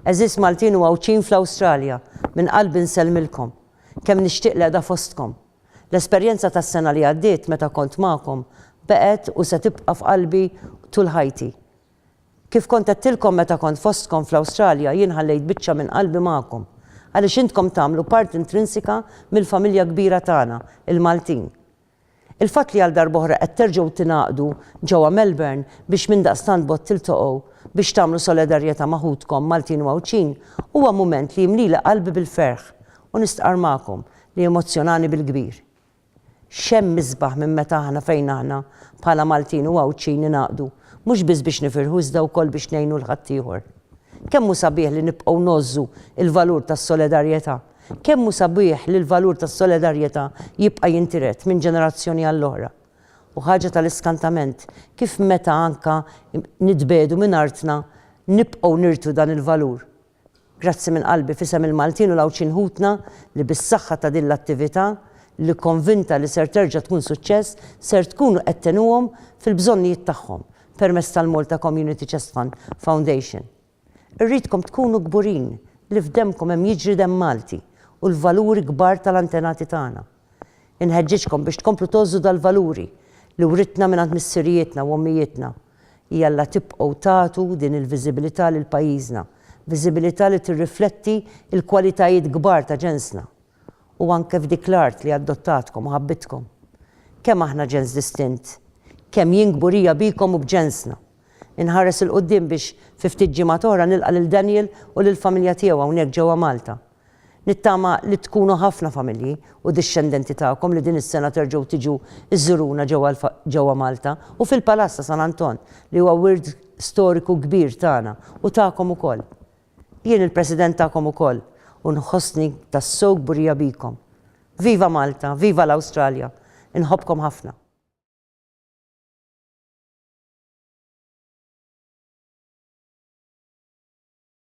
Għeżież Maltin u Għawdxin fl-Awstralja, minn qalbi nsellmilkom. Kemm nixtieq l-qiegħda fostkom. L-esperjenza tas-sena li għaddiet meta kont magħkom baqgħet u se tibqa' f'qalbi tul ħajti. Kif kont għedtilkom meta kont fostkom fl-Awstralja, jien ħallejt biċċa minn qalbi magħkom, għaliex intkom tagħmlu parti intrinsika mill-familja kbira tagħna, il-Maltin. Il-fatt li għal darb'oħra qed terġgħu tingħaqdu ġewwa Melbourne biex mindaqstant b'għodd tiltaqgħu biex tagħmlu solidarjetà ma' ħutkom Maltin u Għawdxin huwa mument li jimlili qalbi bil-ferħ u nistqarr magħkom li emozzjonani bil-kbir. X'hemm isbaħ minn meta aħna fejn aħna bħala Maltin u Għawdxin ningħaqdu, mhux biss biex nifirħu iżda wkoll biex ngħinu 'l ħaddieħor. Kemm hu sabiħ li nibqgħu ngħożżu l-valur tas-solidarjetà. Kemm hu sabiħ li l-valur tas-solidarjetà jibqa' jintiret minn ġenerazzjoni għall-oħra. U ħaġa tal-iskantament kif meta anka nitbiegħdu minn artna nibqgħu nirtu dan il-valur Grazzi minn qalbi f'isem il-Maltin u l-Għawdxin ħutna li bis-saħħa ta' din l-attività, li konvinta li ser terġa' tkun suċċess, ser tkunu qed tgħinuhom fil-bżonnijiet tagħhom permezz tal-Malta Community Chest Fund Foundation. Irridkom tkunu kburin li f'demkom hemm jiġri demm Malti u l-valuri kbar tal-antenati tagħna. Inħeġġiġkom biex tkomplu tgħożżu dal-valuri li writna mingħand missirijietna u ommijietna. Jalla tibqgħu tagħtu din il-viżibilità lil pajjiżna, viżibilità li tirrifletti l-kwalitajiet kbar ta' ġensna u anke f'dik l-art li adottatkom u ħabbitkom. Kemm aħna ġens distint! Kemm jien kburija bikom u b'ġensna! Inħares 'il quddiem biex fi ftit ġimgħat oħra nilqa' lil Daniel u lill-familja tiegħu hawnhekk ġewwa Malta. Nittama li tkunu ħafna familji u dixxendenti tagħkom li din is-sena terġgħu tiġu żżuruna ġewwa Malta u fil-Palazz ta' San Anton li huwa wirt storiku kbir tagħna u tagħkom ukoll. Jien il-President tagħkom ukoll u nħossni tassew kburija bikom. Viva Malta, viva l-Awstralja, inħobbkom ħafna.